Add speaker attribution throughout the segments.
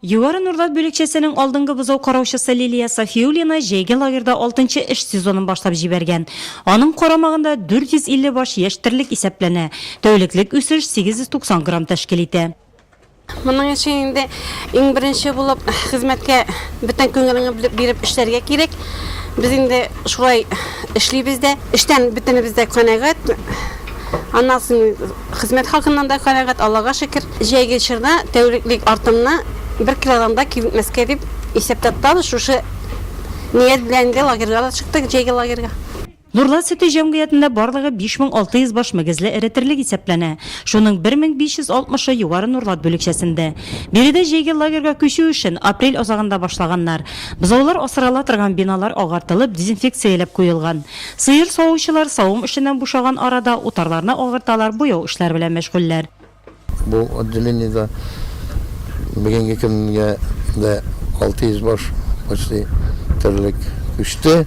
Speaker 1: Югары Нурлат бүлекчәсенең алдынгы бозау караучысы Лилия Сафиуллина җәйге лагерьда алтынчы эш сезонын башлап җибәргән. Аның карамагында 450 баш яшь терлек исәпләнә. Тәүлеклек үсеш 890 грамм тәшкил итә. Моның
Speaker 2: өчен инде иң беренче булып хезмәткә бөтен күңелеңне биреп эшләргә кирәк. Без инде шулай эшлибез дә. Эштән бөтенебез дә канәгать. Аннан соң Хезмәт хакыннан да канәгать, Аллага шөкер. Җәйге чорда тәүлеклек артымны бер килограмм да кимтмәскә дип исәптә тотабыз. Шушы ният белән инде лагерьга да чыктык, җәйге лагерьга. Нурлат сөте
Speaker 1: җәмгыятендә барлыгы 5600 баш мөгезле эретерлек исәпләнә. Шуның 1560-ы Югары Нурлат бүлекчәсендә. Биредә җәйге лагерьга күчү эшен апрель азагында башлаганнар. Бозаулар асрала торган биналар агартылып, дезинфекцияләп куелган. Сыер савучылар савым эшеннән бушаган арада утарларны агарталар, буяу эшләре белән мәшгульләр. Бу
Speaker 3: отделениедә бүгенге көнгә дә 600 баш почти терлек күчте.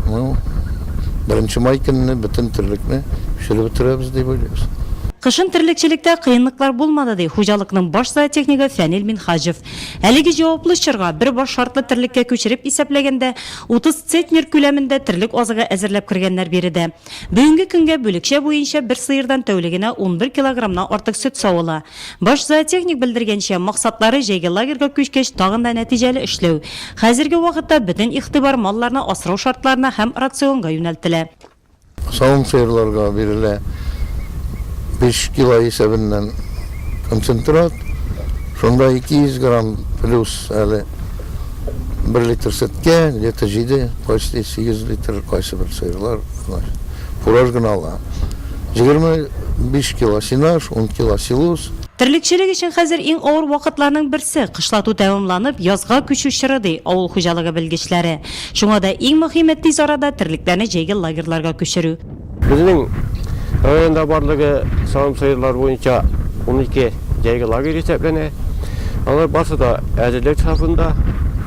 Speaker 3: Ну, беренче май көнне бөтен терлекне пешереп бетерәбез дип уйлыйбыз. Кышын терлекчелектә
Speaker 1: кыенлыклар булмады, ди хуҗалыкның баш зоотехнигы Фәнил Минһаҗев. Әлеге җаваплы чорга, бер баш шартлы терлеккә күчереп исәпләгәндә, Утыз центнер күләмендә терлек азыгы әзерләп кергәннәр биредә. Бүгенге көнгә бүлекчә буенча бер сыердан тәүлегенә унбер килограммнан артык сөт савыла. Баш зоотехник белдергәнчә, максатлары җәйге лагерьга күчкәч тагын да нәтиҗәле эшләү. Хәзерге вакытта бөтен игътибар малларны асрау шартларына һәм рационга юнәлтелә. Савым
Speaker 3: сыерларга бирелә биш кило исәбеннән концентрат. Шунда 200 грамм плюс әле бер литр сөткә, где-то җиде, почти сигез литр кайсы бер сыерлар, значит, фураж гына ала. Җигерме биш кило сенаж, ун кило силуз. Терлекчелек өчен
Speaker 1: хәзер иң авыр вакытларның берсе, кышлату тәмамланып, язга күчү чоры, ди авыл хуҗалыгы белгечләре. Шуңа да иң мөхиме тиз арада терлекләрне җәйге лагерьларга күчерү. Безнең
Speaker 4: районда барлыгы савым сыерлары буенча унике җәйге лагерь исәпләнә. Алар барсы да әзерлек сафында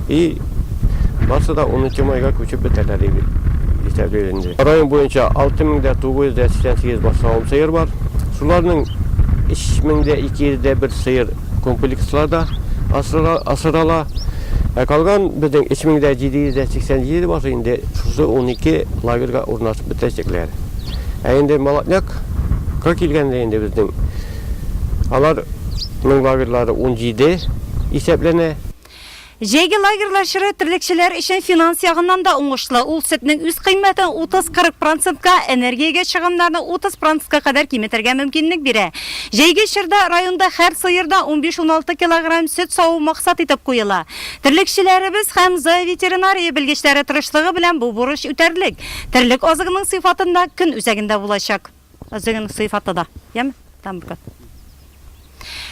Speaker 4: и барсы да унынчы майга күчеп бетәрләр дип исәплибез инде. Район буенча алты мең дә тугыз йөз дә сиксән сигез баш савым сыер бар. Шуларның өч мең дә ике йөз дә бер сыер Комплексларда асрала. Ә калган безнең 3787 басы инде шушы унике лагерьга урнашып бетәчәкләр. Ә инде Молодняк-ка килгәндә инде безнең алар ның лагерьлары унҗиде исәпләнә. Җәйге
Speaker 1: лагерьлар чоры терлекчеләр өчен финанс ягыннан да уңышлы, ул сөтнең үз кыйммәтен 30-40 процентка, энергиягә чыгымнарны 30 процентка кадәр киметергә мөмкинлек бирә. Җәйге чорда районда һәр сыердан 15-16 килограмм сөт саву максат итеп куела. Терлекчеләребез һәм зооветеринария белгечләре тырышлыгы белән бу бурыч үтәрлек, терлек азыгының сыйфатында көн үзәгендә булачак. Үзеңнең сыйфаты да. Яме? Там кат.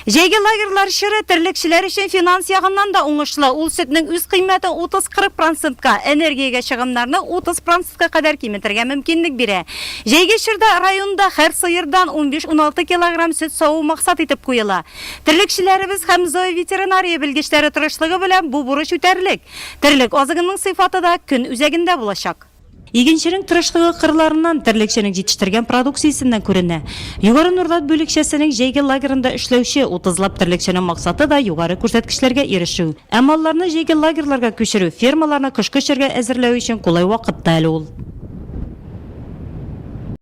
Speaker 1: Җәйге лагерьлар чоры терлекчеләр өчен финанс ягыннан да уңышлы. Ул сөтнең үз кыйммәте 30-40 процентка, энергиягә чыгымнарны 30 процентка кадәр киметергә мөмкинлек бирә. Җәйге чорда районда һәр сыердан 15-16 килограмм сөт саву максат итеп куела. Терлекчеләребез һәм зооветеринария белгечләре тырышлыгы белән бу бурыч үтәрлек. Терлек азыгының сыйфаты да көн үзәгендә булачак. Игенченең тырышлыгы кырларыннан, терлекченең җитештергән продукциясеннән күренә. Югары Нурдат бүлекчәсенең җәйге лагерында эшләүче утызлап терлекченең максаты да югары күрсәткечләргә ирешү. Ә малларны җәйге лагерьларга күчерү, фермаларны кышкы чорга әзерләү өчен кулай вакыт та әле ул.